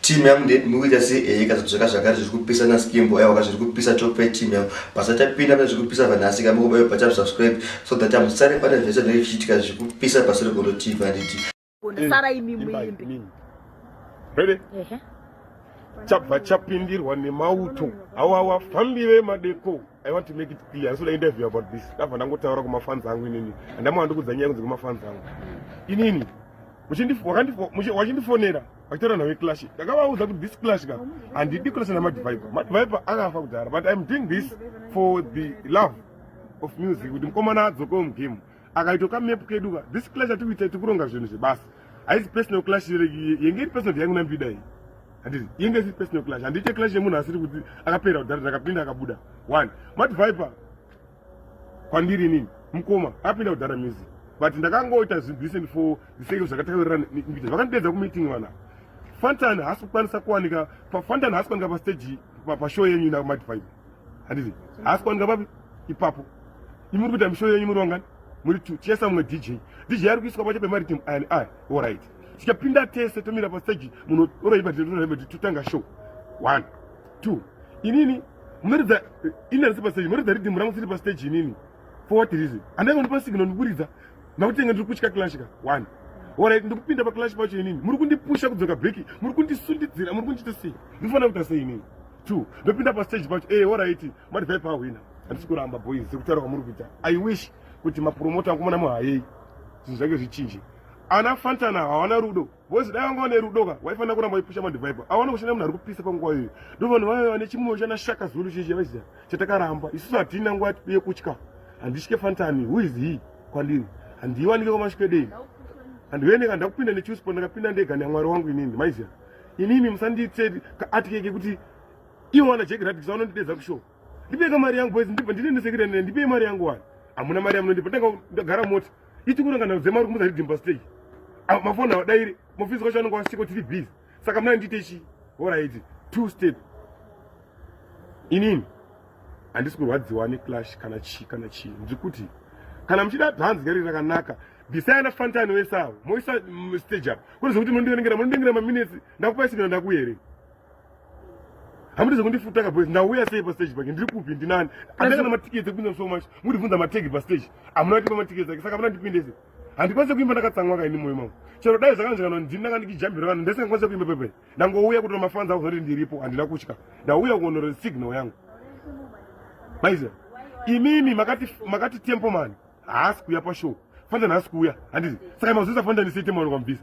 Team yangu ndeti mukuita sei ehe ka zvaka zvakare zviri kupisa na skimbo ewa ka zviri kupisa top 5 team yangu basa tapinda pane zviri kupisa vanhu asi ka mukuba yo bata subscribe so that I'm sorry pane zvese zviri kuchitika zviri kupisa basa regondo team anditi Gondo sara imi muimbi Ready ehe Chabva chapindirwa nemauto awa wafambire madeko I want to make it clear. Ndisina interview about this. Ndabva ndangotaura kumafans angu inini. Ndamwa ndikudza nyaya kunzi kumafans angu. Inini. Wachindifonera. Vachitora nawe clash. Ndakavaudza kuti this clash ka. Handidi clash na Mad Viper. Mad Viper akafa kudhara but I'm doing this for the love of music. Kuti mkomana adzoke mu game. Akaitoka map kedu ka. This clash atikuita tikuronga zvinhu zvebasa. Haisi personal clash yenge iri personal yangu na Mbida iyi. handiti inge si personal clash handiite clash yemunhu asiri kuti akapera kudhara ndakapinda akabuda one mati viper kwandiri inini mukoma akapinda kudhara music but ndakangoita zvinhu decent for the sake of zvakataurira mbita vakandidedza kumeeting vana fantan haasi kukwanisa kuwanika fantan haasi kuwanika pastage pashow yenyu ina mati viper handiti haasi kuwanika papi ipapo imi muri kuita mishow yenyu muri wangani muri two chesa mumwe dj dj ari kuiswa pacho pemari team ani ai all right tikapinda tese tomira pastage munhu oraiva titoraiva ti totanga show one two inini munoridza eh, ini arisi pastage munoridza ridhimu rangu siri pastage inini for what reason andaiva ndipa signal ndikuridza makutenga ndiri kutya clash ka one orit ndikupinda paclash pacho inini muri kundipusha kudzoka breki muri kundisundidzira muri kundiita sei ndinofanira kuita sei inini two ndopinda pastage pacho e eh, orit mati vaipa ahwina handisi kuramba boys sekutaura kwamuri kuita i wish kuti mapromota angu mona muhayei zvinhu zvake zvichinje ana fantana hawana rudo vozi dai vanga vane rudo ka waifanira kuramba waipusha madhivaipo awana kushanda munhu ari kupisa panguva iyoyo ndo vanhu vaiva vane chimoyo chana shaka zulu chichi yavaiziva chatakaramba isusu hatina nguva yekutya handitye fantani who is he kwandiri handiiwanike kwamasvikedei handiveneka ndakupinda nechusipo ndakapinda ndega neamwari wangu inini maiziva inini musanditse atyeke kuti ivo wana jeki radikisa vanondidedza kushow ndipeka mari yangu boys ndibva ndinendesekirene ndipei mari yangu wani hamuna mari yamunondipa ndagara mota Ichi kunanga na zema rikumuza ridimba stage. Ah, mafoni awadaire, mofisi kwacho anonga wasiko tiri busy. Saka mna ndite chi. Alright, two step. Inini handisi kurwadziwa ne clash kana chi kana chi. Ndikuti kana mchida dance gari rakanaka. Bisaya na fantani wesa. Moisa mm, stage up. Kuri zvokuti mundingira mundingira ma minutes ndakupa sigana ndakuere. hamudi zvekundifuta kaboys ndauya sei pastage pake ndiri kupi ndinani andanga na matiketi ekuinza so much mundibvunza mategi pastage amuna kuti pamatiketi ake saka amuna ndipindese handikwanise kuimba ndakatsamwa kaini moyo mangu chero dai zvakanzvikana ndini ndanga ndikijambira vanhu ndisingakwanise kuimba pepe ndangouya kutora mafanzi ako zoti ndiripo handina kutya ndauya kuonora signal yangu maiziva imimi makati makati tempo mani haasi kuuya pashow fanda nhasi kuuya handizi saka mazuisa fanda ndisei tempo mani kwamubvisa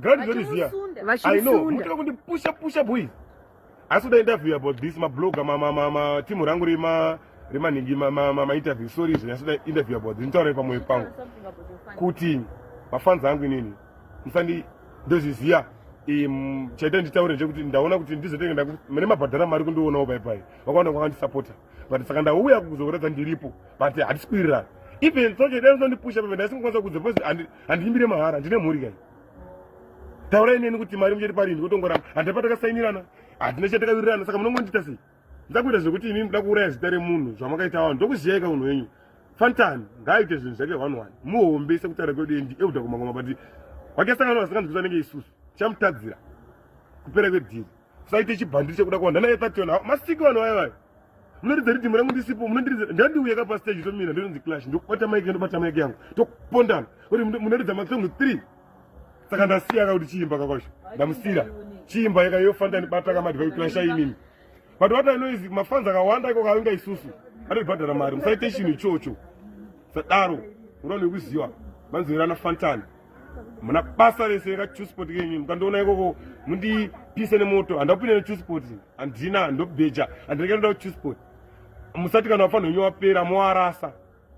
ground zori ziya i know mutira kundi pusha pusha boys asi kuda interview about this mabloga timu rangu rema remanhingi mainterview sorry izvo nyasi kuda interview about this nditaurei pamwoyo pangu kuti mafans angu inini musandi ndozviziya chaita nditaure ndechekuti ndaona kuti ndizotenge mune mabhadhara mari kundionawo paipai vakaona kwakandisapota but saka ndauya kuzokuratidza ndiripo but hatisi kuwirirana even soche dai usandipusha pamene ndaisingakwanisa kudza because handiimbire mahara ndine mhuri kai taurai neni kuti mari muchati parini kutongoramba handina patakasainirana handina chatakawirirana saka munongondiita sei ndakuita zvekuti imi muda kuuraya zita remunhu zvamakaita vanhu ndokuziyaika munhu wenyu fantan ngaaite zvinhu zvake one one muhombe sekutaura kwedu endi euda kumangoma but wakesangana vasinganzwisa nenge isusu chamutadzira kupera kwedhiri saite chibhandiri chekuda kuwanda naye tationa masiki vanhu vaye vayo munoridza ridhimu rangu ndisipo munondiridza ndandiuya ka pastage tomira ndinonzi clash ndokubata maiki ndobata maiki yangu topondana kuti munoridza masong three saka ndasiya ka kuti chiimba kakwacho ndamusira chiimba yaka yofanda ndibata kamadhiva kuclasha inini but what i know is mafanzi akawanda iko kavinga isusu atobhadhara mari musaite chinhu ichocho sadaro unoona nekuziva manzwirana fantani muna basa rese kachuspot kenyu mukandiona ikoko mundipise nemoto handakupinde nechuspot handina handobheja handinenge ndoda kuchuspot musati kana wafanira wenyu wapera moarasa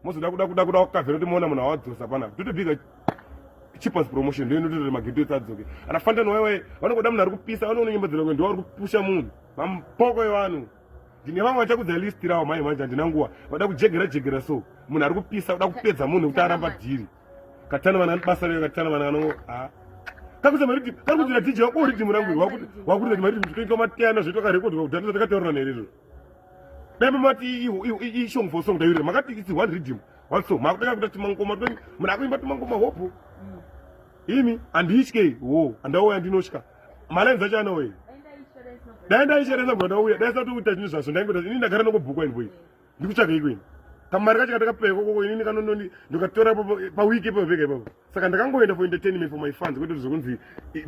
mozoda kuda kuda kuda kukavhera kuti moona munhu awadzosa pana totobiga cheapest promotion ndo inototori mageto ese adzoke ana fantano waiwai vanongoda munhu ari kupisa vanoona nyimbo dzinoke ndiwo ari kupusha munhu mampoko evanhu ndine vamwe vachakudza list rawo mhai manje handina nguva vada kujegera jegera so munhu ari kupisa uda kupedza munhu kuti aramba dhiri katana vana basa rega katana vana vanongo ah kakuza mariti kari kudzira tiji wako uri timu rangu wakuti wakuti kuti mariti zvitoitwa matiyana zvoitwa ka record wakudhana zvatika taurana here izvo dai mamati i song for song dayurira makati it's one rhythm one song makutanga kuita timangoma twenyu munhu akuimba timangoma hope mm. imi anditye wo andauya ndinotya malines acho anauya dai ndaisheresa mnhu andauya dai satouita chinhu zvaso ndaingoita ini ndagara nokubhukwa invoice ndikutsvagei kweni kamari kacho katakapewa ikokoko inini kanononi ndikatora pawiki ipapo pega ipapo saka ndakangoenda for entertainment for my fans kwete zvekunzi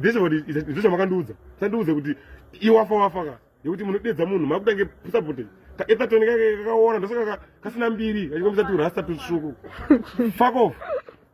this what izvo zvamakandiudza sandiudze kuti iwafa wafa ka yekuti munodedza munhu makutange sapote kaetatoni kake kakaona ndosaka kasina mbiri kachikombisa turasta tutsvuku fuck off